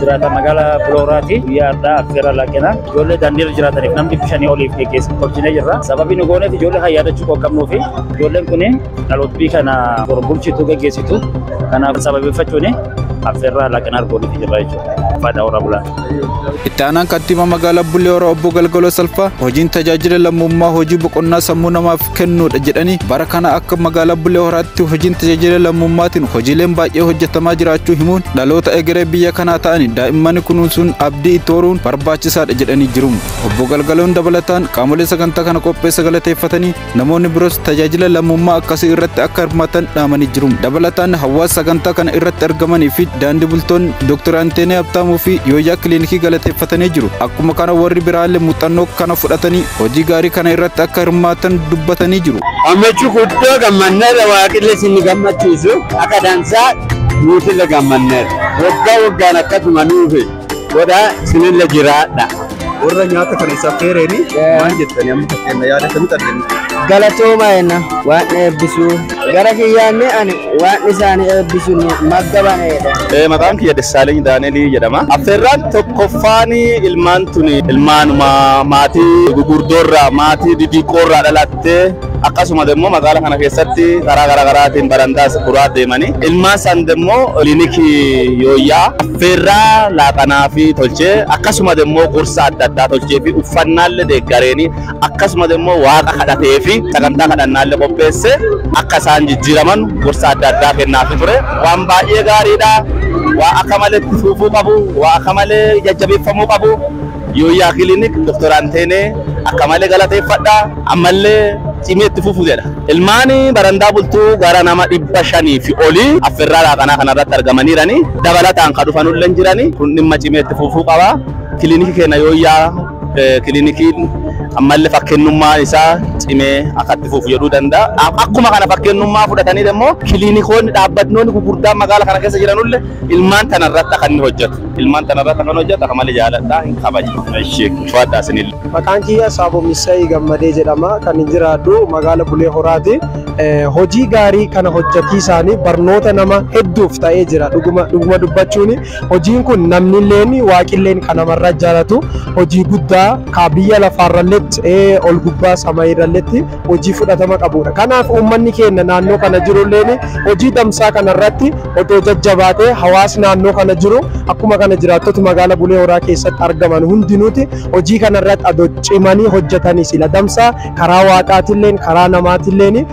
jiraata magaala Bulooraati. Guyyaa har'aa affeerra laaqina. Ijoollee daandiirra jiraataniif namni bishanii oliif geggeessu tolchinee jirra. Sababii nu gooneef ijoollee kan yaadachuu koo qabnuu fi ijoolleen kun dhalootbii kana bor bulchitu geggeessitu. Kanaaf sababeeffachuun affeerraa laaqina argooniif jirra jechuudha. Faayidaa warra bulaa. Itti aanaan kantiibaa magaalaa Bulee Horaa obbo Galgaloo Salphaa hojiin tajaajila lammummaa hojii boqonnaa sammuu namaaf kennuudha jedhanii bara kana akka magaalaa Bulee Horaatti hojiin tajaajila lammummaatiin hojiileen baay'ee hojjetamaa jiraachuu himuun dhaloota egeree biyya kanaa ta'anii daa'imman kunuunsuun abdii itti horuun barbaachisaadha jedhanii jiru. Obbo Galgaloon dabalataan qaamolee sagantaa kana qopheessa galateeffatanii namoonni biroos tajaajila lammummaa akkasii irratti akka hirmaatan dhaamanii jiru. Dabalataan hawaasa sagantaa kana irratti argamanii fi daandii bultoonni Dr. Anteenee Habtaamuu fi Yooyyaa Kiliinikii galateeffatanii jiru. Akkuma kana warri biraallee muuxannoo kana fudhatanii hojii gaarii kana irratti akka hirmaatan dubbatanii jiru. Gammachuu guddoo gammanneerra waaqillee isin gammachiisu akka dansaa nuutille gammanneerra. Waggaa waggaan akkasuma nuufi godhaa isinille jiraadha. Warra nyaata kana isa affeereeni maal jettani amma fakkeenya yaada akkamitti arginu? Galatooma jenna waan eebbisuu. Gara kiyyaan ani waan isaanii eebbisu magga baneedha. Ee, Maqaan kiyya Dessaaleny Daanelii jedhama. Affeerraan tokkoffaan ilmaan tuni ilmaanuma maatii gugurdoorraa maatii didiqqoorraa dhalattee akkasuma immoo magaala kana keessatti karaa garaa garaatiin barandaas furaa deemanii ilmaan san immoo kilinikii yooyyaa affeerraa laaqanaa fi tolchee akkasuma immoo gorsa adda addaa tolchee fi uffannaallee deeggareenii akkasumas immoo waaqa kadhatee fi sagantaa kadhannaallee qopheessee akka isaan jijjiiraman gorsa adda addaa kennaafi ture. Waan baay'ee gaariidha. Waa akka malee itti fuufuu qabu, waa akka malee jajjabeeffamuu qabu. Yooyyaa Kilinik Dr. Anteenee akka malee galateeffadha. Ammallee cimee itti fufu jedha. Ilmaan barandaa bultuu gara nama dhibba shanii fi olii affirraa laaqanaa kanarratti argamaniirani. Dabalataan kan dhufanullee jirani. Kun dhimma cimee itti fufuu qaba. Kilinikii keenya yooyyaa Kilinikiin ammallee fakkennummaan isaa cimee akka itti fufu jedhuu danda'a. Akkuma kana fakkennummaa fudhatanii immoo kilinikoonni dhaabbatnoonni gurguddaan magaala kana keessa jiranulle ilmaan tana irratti akka inni hojjetu. Ilmaan tana irratti akka hojjetu akka malee jaaladha hin kabaja. Ishee fudhadha isinille. Maqaan kiyya Saabo Missay Gammadee jedhama. Kan hin jiraadhu magaala Bulee Horaati. Hojii gaarii kana hojjatiisaanii barnoota nama hedduuf ta'ee jira dhuguma dubbachuuni. Hojiin kun namnilleen waaqilleen ka namarra jaalatu hojii guddaa ka biyya lafaarralletti ee ol gubbaa samayiirralletti hojii fudhatama qabuudha. Kanaaf uummanni keenna naannoo kana jirulleen hojii damsaa kanarratti otoo jajjabaatee hawaasi naannoo kana jiru akkuma kana jiraattoti magaala Bulee Horaa keessatti argaman hundinuuti hojii kanarratti adoo cimanii hojjetanii sila damsaa karaa waaqaatilleen karaa namaatilleen